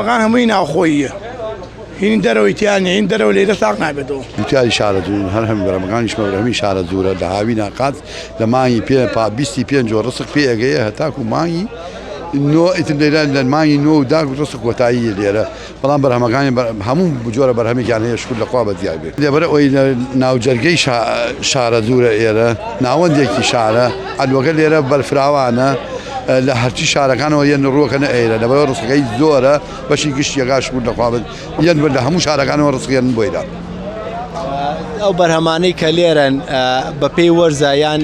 بەقان هەمووی ناوخۆییە هینی دەرەوەی تیا نیە هین دەرەوە لێرە ساق نابێتەوە دوتیاری شارە دوون هەر هەم بەرەمەکانی شمەورەمی شارە دوورە لە هاوی ناقات لە مانگی پێ پا بیستی پێنج و ڕسق پێ ئەگەیە هەتاکو مانگی نۆ ئیتم لێرە لە مانگی نۆ و داک ڕسق کۆتایی لێرە بەڵام بەرهەمەکانی هەموو بجۆرە بەرهەمێکیان هەیە شکر لەخوا بە دیار بێت لێبەرە ئەوی ناوجەرگەی شارە دوورە ئێرە ناوەندێکی شارە ئەلوەکە لێرە بەرفراوانە لە هەرچی شارەکانەوە یەن ڕووەکەنە ئێرە لەبەر ڕسقەکەی زۆرە بەشی گشتی گاش بوون دەخوابن یەن بەر لە هەموو شارەکانەوە ڕسقیان بۆیدا ئەو بەرهەمانەی کە لێرەن بەپێی وەرزە یان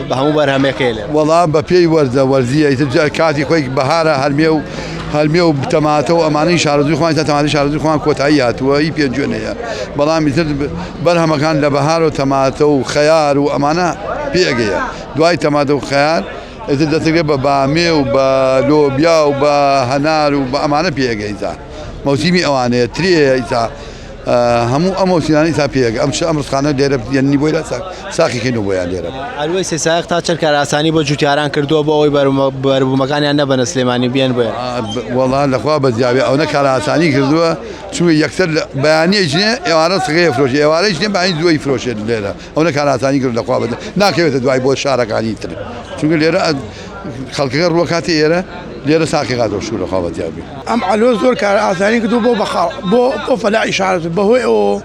بە هەموو بەرهەمەکەی لێ وەڵا بە پێی وەرزە وەرزیە کاتی خۆی بەهارە هەرمێ و هەرمێ و بتەماتە و ئەمانەی شارزوی خۆیان تا تەماری شارزوی خۆیان کۆتایی هاتووە هی پێنجوێنەیە بەڵام میتر بەرهەمەکان لە بەهار و تەماتە و خەیار و ئەمانە پێگەیە دوای تەماتە و خەیار ئیتر دەتەگە بە بامێ و بە لۆبیا و بە هەنار و بە ئەمانە پێگەیتا مەوسیمی ئەوانەیە ترێە ئیتا هەموو ئەم مەوسیانی تا پێگە ئەم چ ئەم ڕسخانە دێرە یەنی بۆی لە ساقی کەین و بۆیان دێرە ئەلوەی سێسایق تا چەند کاراسانی بۆ جوتیاران کردووە بۆ ئەوەی بەربوومەکانیان نەبەنە سلێمانی بێن بۆیان وەڵا لەخوا بەزیاوی ئەوەنە کاراسانی کردووە چونکە یەکسەر لە بەیانی ئەیچنێ ئێوارە سغەی ئەفرۆشێ ئێوارە ئەیچنێ بەیانی زوو ئەیفرۆشێ لێرە ئەونە کارئاسانی کردووە لە خوا بەدەر ناکەوێتە دوای بۆ شارەکانی تر چونکە لێرە خەڵکەکە ڕووەکاتێ ئێرە لێرە ساقی هاتەوە شوو لە خوا بەدیار بێ. ئەم عەلۆ زۆر کارئاسانی کردووە بۆ بەخاڵ بۆ بۆ فەلاحی شار بەهۆی ئەوەوە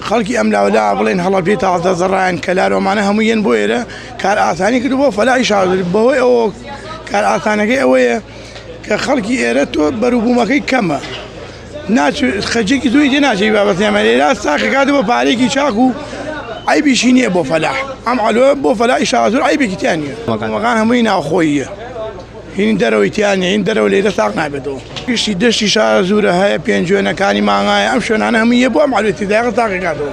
خەڵکی ئەم لاوە لا بڵێن هەڵەبجەی تازە زەڕایەن کەلار ئەمانە هەمووی یەن بۆ ئێرە کارئاسانی کردووە بۆ فەلاحی شار بەهۆی ئەوەوە کارئاسانەکەی ئەوەیە کە خەڵکی ئێرە تۆ بەروبوومەکەی کەمە ناچ خەجێکی زۆری دێ ناچی بابەت نێمە لێرا ساخی کات بۆ پارێکی چاک و ئایبیشی نییە بۆ فەلاح ئەم ئەلۆ بۆ فەلای شازور ئایبێکی تیان نیە مەکان هەمووی ناوخۆییە هین دەرەوەی تیان هین دەرەوە لێرە ساق نابێتەوە گشتی دەشتی شازورە هەیە پێنجوێنەکانی مانگایە ئەم شوێنانە هەموویە بۆ ئەم ئەلوێتی داغ تاقی کاتەوە